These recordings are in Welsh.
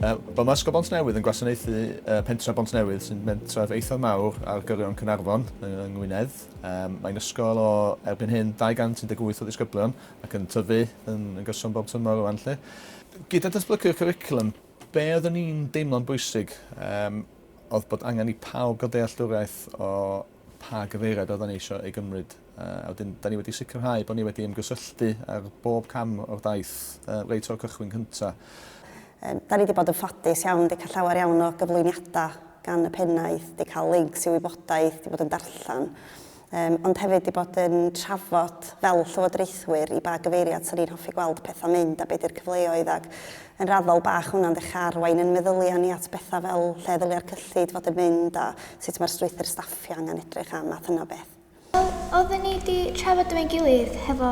Uh, Mae Ysgol Bont Newydd yn gwasanaethu uh, pentref Bont Newydd sy'n mentref eithaf mawr ar gyrion Cynarfon yng Ngwynedd. Um, mae'n ysgol o erbyn hyn 218 o ddisgyblion ac yn tyfu yn, yn gyson bob tymor o anlle. Gyda datblygu'r curriculum, be oeddwn ni'n deimlo'n bwysig um, oedd bod angen i pawb gael dealltwriaeth o pa gyfeiriad oeddan ni eisiau ei gymryd, a wedyn 'dan ni wedi sicrhau bod ni wedi ymgysylltu ar bob cam o'r daith reit o'r cychwyn cyntaf. Yym 'dan ni 'di bod yn ffodus iawn, 'di cael llawer iawn o gyflwyniadau gan y pennaeth, 'di cael lincs i wybodaeth, 'di bod yn darllen, yym ond hefyd 'di bod yn trafod fel llywodraethwyr i ba gyfeiriad 'sa ni'n hoffi gweld pethau'n mynd a be' 'di'r cyfleoedd ac Yn raddol bach hwnna'n ddech arwain yn meddylia ni at bethau fel lle ddylia'r cyllid fod yn mynd a sut mae'r strwythur staffio angen edrych a math yna o beth. Wel, oedden ni 'di trafod efo'n gilydd hefo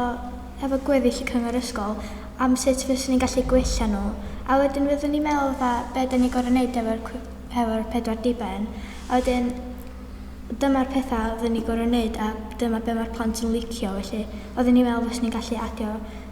hefo gweddill y cyngor ysgol am sut fyswn ni'n gallu gwella nhw a wedyn fyddwn ni'n meddwl fatha be' 'dan ni gor'o' neud efo'r cw- efo'r pedwar diben a wedyn dyma'r petha' oedden ni gor'o' neud a dyma be' ma'r plant yn licio felly oedden ni'n meddwl fyswn ni'n gallu adio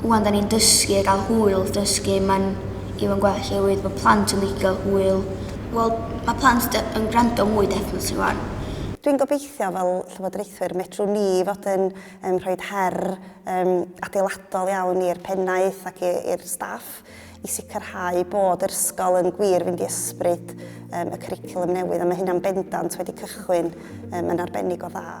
ŵan 'da ni'n dysgu a gael hwyl dysgu mae'n even gwell oherwydd mae plant yn licio hwyl. Wel mae plant de- yn gwrando mwy definitely ŵan. Dwi'n gobeithio fel Llywodraethwyr medrwn ni fod yn yn rhoid her yym adeiladol iawn i'r Pennaeth ac i i'r staff i sicrhau bod yr ysgol yn gwir fynd i ysbryd yym y cwricwlwm newydd a mae hynna'n bendant wedi cychwyn yym yn arbennig o dda.